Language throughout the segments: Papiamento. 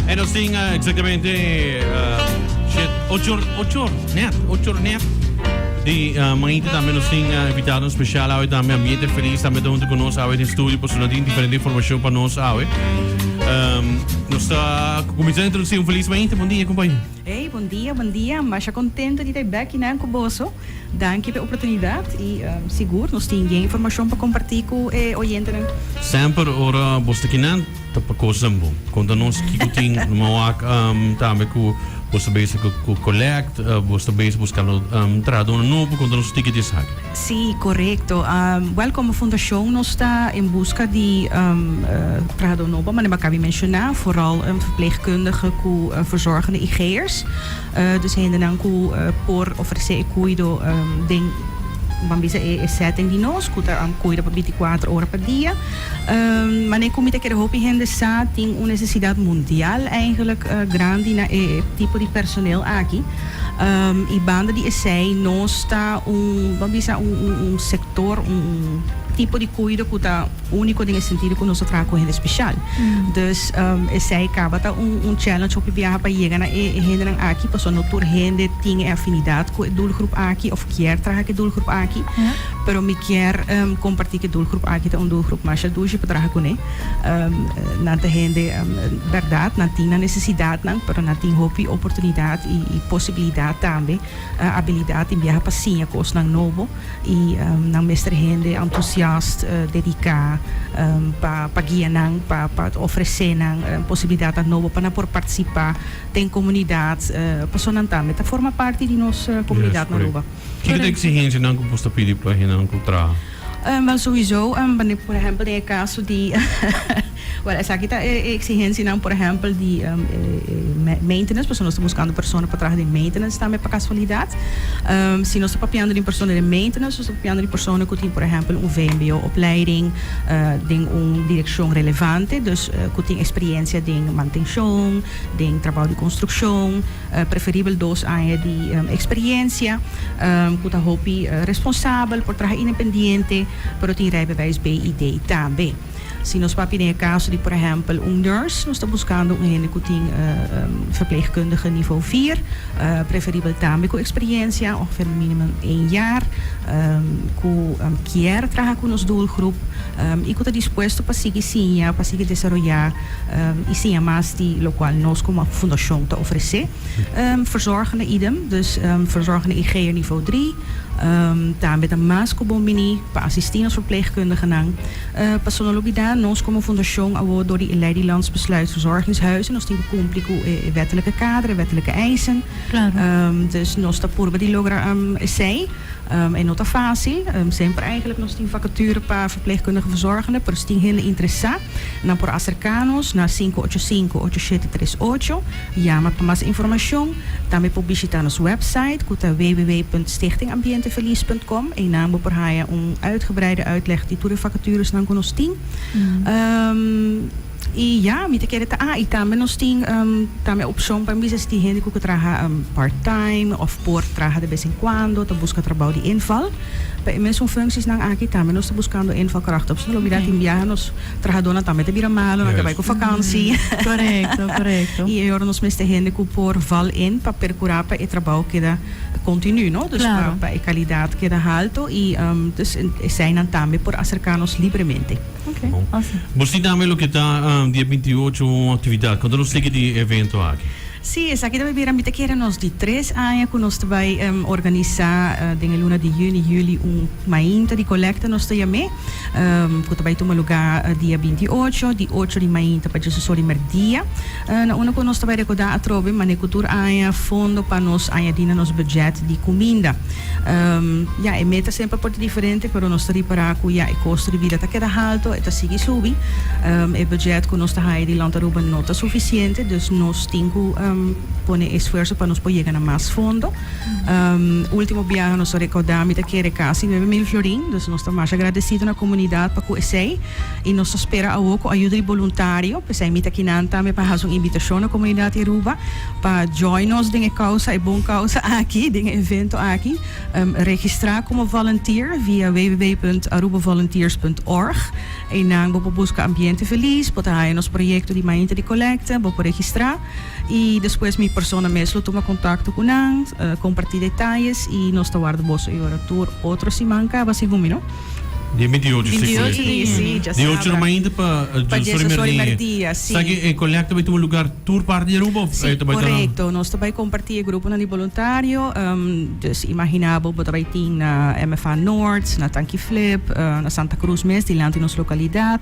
En nos tin exactamente shit ocho ocho net ocho net di mañita tambe nos tin invitado special awe tambe ambiente feliz tambe ta hunto cu nos awe den studio pasobra no tin diferente informacion pa nos awe nos ta cuminsa den introduci un feliz mañita bon dia compañe. Ey bon dia bon dia masha contento di ta bek nan cu boso. Danki p'e oportunidat i sigur nos tin bien informashon pa kompartí ku e oyentenan. Semper ora bo sta kinan, ta pa kosen bo. Konta nos kiko tin mau ak tambe ku bo sta bezig ku collect, bo sta bezig buska lo traha duna nobo. Konta nos un tiki di esaki. Sí, korekto. Bwel, komo fundashon nos ta en buska di trahadó nobo, manera bo a kabe menshoná, foral verplegkundige ku verzorgende IG'ers. Dus hendenan ku por ofresé e kuido den, ban bisa, e sèting di nos ku ta kuida pa binti-kuater ora pa dia. Manera ku mi ta kere hopi hende sa, tin un nesesidat mundial eigenlik grandi na e tipo di personel aki. I banda di esei nos ta un, ban bisa, un sektor, un tipo di kuido ku ta. Úniko den e sentido ku nos ta traha ku hende speshal. Dus esei tabata un challenge hopi biaha pa yega na e hendenan aki pasobra no tur hende tin e afinidat ku e doelgroep aki òf kier traha ku e doelgroep aki. Pero mi kier kompartí ku e doelgroep aki ta un doelgroep masha dushi pa traha kuné. Nan ta hende bèrdat nan tin nan nesesidatnan pero nan tin hopi oportunidat i posibilidat tambe, abilidat den biaha pa siña kosnan nobo. Y nan mester hende entusiast, dedica pa guia nan, pa ofrece nan posibilidad anobo pa nan por participa den comunidad, pasobra nan tambe ta forma parti di nos comunidad na Aruba. Kiko ta exigencianan cu nos ta pidi pa e hendenan cu traha? Wel, sowiso, por ehempel den e caso di. Well, esaki ta e exigencianan, por ehempel di e maintenance, pasobra nos ta buscando persona pa traha den maintenance tambe pa casualidad. Si nos ta papiando di un persona den maintenance, nos ta papiando di persona cu tin, por ehempel, un VMBO opleiding den un direccion relevante, dus cu tin experiencia den mantencion, den trabao di construccion, preferibel dos aña di experiencia, cu ta hopi responsabel, por traha independiente, pero tin rijbewijs B y D tambe. Si nos papia den e kaso di por ehèmpel un nurse, nos ta buskando un hende ku tin verpleegkundige nivo vier, preferibel tambe ku eksperiencia, ongeveer mínimo ein jaar, ku kier traha ku nos doelgroep i ku ta dispuesto pa sigui siña, pa sigui desaroyá i siña mas di lokual nos komo fundashon ta ofresé. Verzorgen na idem, dus verzorgen na IGEA nivo drie. Tambe ta mas ku bon bini pa asistí nos verpleegkundigenan. Pa su no lo bida, nos komo fundashon a wor dor di e lei di Landsbesluit Verzorgingshuis i nos tin ku kumpli ku e wettelike kader, e wettelike eisen. Dus nos ta purba di logra esei. E no ta fásil. Semper eigenlik nos tin vakature pa verpleegkundige verzorgende, pero si tin hende interesá, nan por aserká nos na sinku ocho sinku, ocho shete tres ocho. Yama pa mas informacion. Tambe por bishita nos website cu ta www.stichtingambientefeliz.com. Einan bo por haya un uitgebreide uitleg di tur e vacaturesnan cu nos tin. I ja, mi ta kere ta, ah, i tambe nos tin tambe e opcion pa mi sisti hende cu ta traha part-time of por traha de bes en cuando, ta busca trabao di inval. Pa e mesun functiesnan aki tambe nos ta buscando invalkrachten. Nos no lo mira tin biaha nos. Trahadónan tambe ta bira malu, nan ta bai ku vakansi. Korekto, korekto. I e ora nos mester hende ku por val in pa perkurá pa e trabou keda kontinú, no? Dus pa pa e kalidat keda haltu i dus eseinan tambe por aserká nos libremente. Oké, awesome. Bo si tambe loke ta dia binti ocho un aktividat? Konta nos tiki di e evento aki. Sí, esaki ta bira. Mi ta kere nos di tres aña cu nos ta bay organisa den e luna di juni, juli un mainta di colecta nos ta yam'e cu ta bay tuma luga dia binti y ocho di ocho di mainta pa djesus ora di merdia. Na unda cu nos ta bay recorda atrobe mane cu tur aña fondo pa nos añadi na nos budget di cuminda. Ya, e meta semper por ta diferente pero nos ta ripara cu ya e costo di bida ta keda halto, e ta sigui subi. E budget cu nos ta haya di Lont Aruba no ta suficiente. Dus nos tin cu pone esfuerso pa nos por yega na mas fondo. Ultimo biaha nos ta recorda mi ta kere casi nuebe mil florin, dus nos ta masha agradecido na comunidad pa cu esey. Y nos ta spera awo cu ayuda di boluntario, pesey mi ta aki nan tambe pa haci un invitacion na comunidad di Aruba pa join nos den e causa, e bon causa aki, den e evento aki. Registra como volunteer via www.arubavolunteers.org. Einan bo por busca Ambiente Feliz, bo ta haya nos proyecto di maente di colecta, bo por registra y despues mi persona mes lo tuma contacto cu nan, comparti detalles y nos ta warda boso y ora tur otro siman caba si hunmi no. Dia binti y ocho si colecta. Di binti y ocho di si, dja sabra. Di ocho na maente pa Jesus Ori Merdia. Dia si. Sa ki e colecta bai tuma lugar tur parti di Aruba of bai ta bai ta nan? Si, corecto. Nos ta bai comparti e gruponan di boluntario. Dus imagina bo, bo ta bai tin na MFA Noord, na Tanki Flip, na Santa Cruz mes, dilanti nos lokalidad.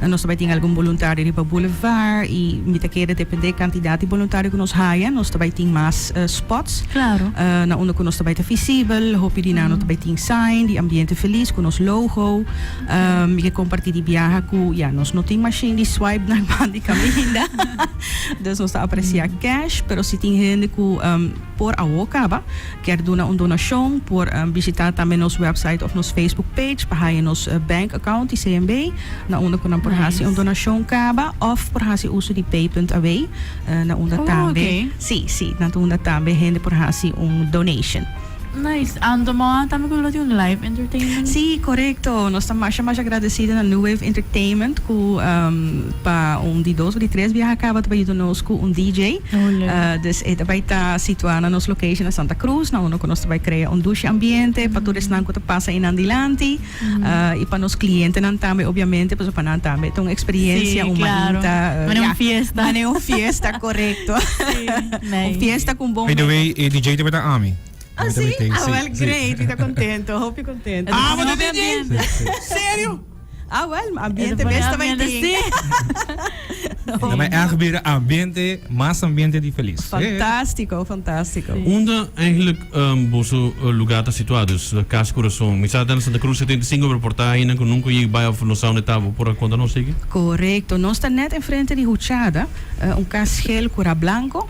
Nos ta bai tin algun boluntario riba Boulevard i mi ta kere depende e kantidat di boluntario ku nos haya, nos ta bai tin mas spots. Klaro. Na unda ku nos ta bai ta visibel, hopi di nan nos ta bai tin sign di Ambiente Feliz ku nos logo. Mi ke kompartí di biaha ku ya, nos no tin mashin di swipe nan man di kaminda, dus nos ta apresiá cash, pero si tin hende ku. por awo caba. Kier duna un donacion por bishita tambe nos website of nos Facebook page pa haya nos bank account di CNB na unda cu nan por haci un donacion caba of por haci uso di pay.aw na unda tambe si si na unda tambe hende por haci un donation. Nice and tomorrow tambe cu lo tin un live entertainment. Si corecto nos ta masha masha agradecido na New Wave Entertainment cu. pa un di dos of di tres biaha caba ta bay yido nos cu un DJ dus e ta bay ta situa na nos location na Santa Cruz na uno cu nos ta bay crea un dushi ambiente pa tur esnan cu ta pasa enan dilanti y pa nos clientenan tambe obviamente pasobra pa nan tambe ta un experiencia un mainta mane un fiesta corecto un fiesta cu un bon mezcla. By the way e DJ tambe ta ami ami ta meten si si. Awel great mi ta contento hopi contento. Abo ta DJ? Serio? Ah wel, ambiente mes ta bay ding. Na bay echt bira ambiente, mas ambiente di feliz. Fantastico, fantastico. Unda eigenlijk um, boso uh, lugar ta situado? Dus na Cas Corazon. Mi sa ta na Santa Cruz 75, pero por ta aynan cu nunca yeg bay of no sa unda ta, bo por a conta nos sigi? Correcto. Nos ta net enfrente di Huchada, uh, un cas gel cura blanco.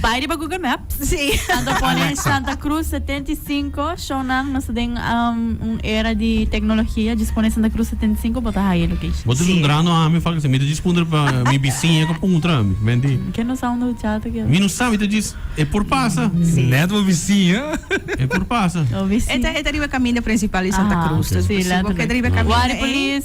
Bai riba Google Maps. Sí. Nan ta pone Alexa. Santa Cruz 75, shownan nos ta den um, un era di tecnologia, djis pone Santa Cruz 75 bo ta haya location. Bo ta Sí. dundrando ami fak se mi ta dispundre pa mi bisiña ka puntra ami. Menti. Ken no sa unda ku chata ke. Mi no sabe ta jis e por pasa. Sí. Net bo bisiña. E por pasa. O E ta, bisi. e ta riba caminda principal di Santa Aha, Cruz. Dus sí, si bo letterlijk. keda riba caminda Wari ei, polis.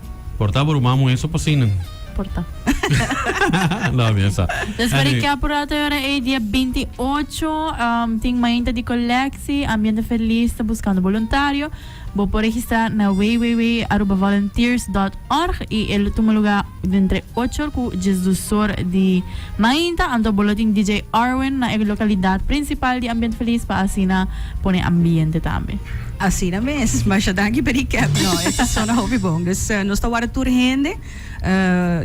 Por ta abrumá muhé su por sinan. Por ta. No bien sa. Nos ta rikiá por rato e ora ei dia binti ocho tin mainta di kolekshi. Ambiente Felis ta buskando boluntario. Bo por registrá na www.arubavolunteers dot org i e lo tuma lugá den tre ocho or ku djes dus or di mainta. Anto bo lo tin DJ Arwin na e lokalidat prinsipal di Ambiente Felis pa asina pone ambiente tambe. Asina mes, masha danki pa recap no, e ta sona hopi bon. Dus nos ta warda tur hende,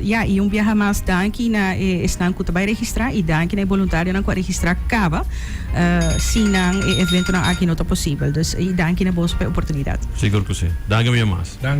ya y un biaha mas danki na esnan cu ta bay registra y danki na e boluntarionan cu a registra caba, sin nan e eventonan aki no ta posibel. Dus y danki na boso pa e oportunidad. Sigur cu si. Danki un biaha mas.